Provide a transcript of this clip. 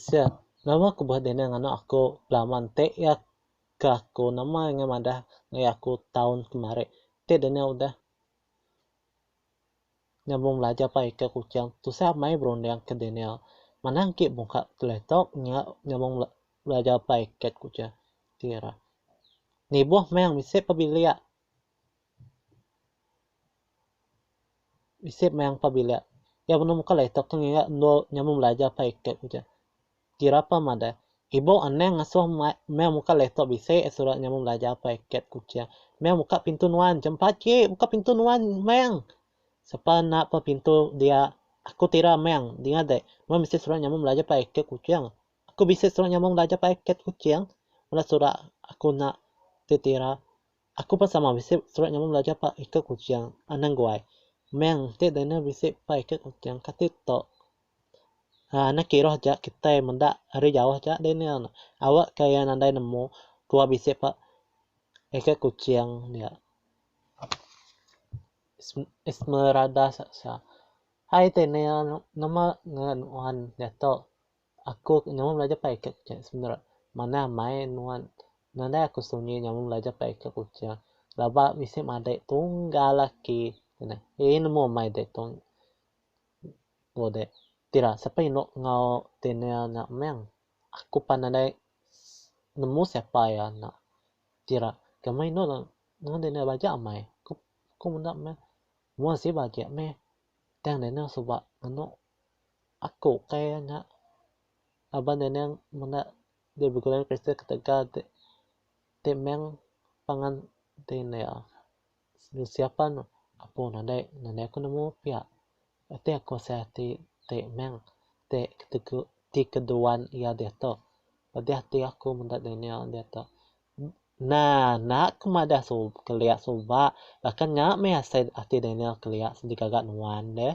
Sia, nama ku buah dinner nganu aku belama enti iya ke aku nama iya ngah madah ngagai aku taun kemari. Enti dinner udah nyambung belajar pagi ke Kuching tusah mei berunding ke dinner. Manah engki muka laptop nya nyambung belajar pagi ke Kuching. Nibuh meh bisi pa bilik. Bisi meh yang pabilik. Iya benung muka lei tok tu ngiga endur nyambung belajar apai ikut ku ceh. Kira apai madah, ibu anang ngasuh mai meh muka lei tok bisi a surat nyambung belajar apai ikut ku ceh. Meh muka pintu nuan ceh. Empa agi muka pintu nuan meng. Sapa enda pa pintu dia aku ti ira meng. Dinga dei, nuan bisi surat nyambung belajar apai ikut ku ceh. Aku bisi surat nyambung belajar apai ikut ku ceh. Meda surat aku enda ti tira. Aku pun sama bisi surat nyamai belajar pa ika Kuching. Anang guai. Meng, ti dina bisi pa ika Kuching kati tok. Haa anak kiruh ja kitai meda ari jauh ja dina ne. Awak ka iya nadai nemu keluar bisi pa ika Kuching dia. Esmeralda sah sah. Hai dina nama ngagai nuan diatu. Aku ke nyambung belajar pai ke Kuching sebenar manah mai nuan nadai aku sunyi nyambung belajar pai ke Kuching laba bisi madai tunggal aki kena ilmu mai deh tu tu deh ti ra sapa indu enggau Daniel nya meng aku pan nadai nemu sapa iya nya ti ra kami indu enggau Daniel baja amai ku menda meh mun siba agi meh. Tang nenek suba ngeno aku ukai nya laban nenek menda deh begulai diri kerja ketegal ti ti meng pangan ti enda iya. Usia pan aku nadai nadai aku nemu pia ti aku asai ati ti meng ti ketegal ti keduan iya diatu. Pedeh ati aku meda nenek diatu. Nah, enda ke madah suba, kelia suba. Baka nya meh asai ati Daniel kelia sidi gaga nuan deh.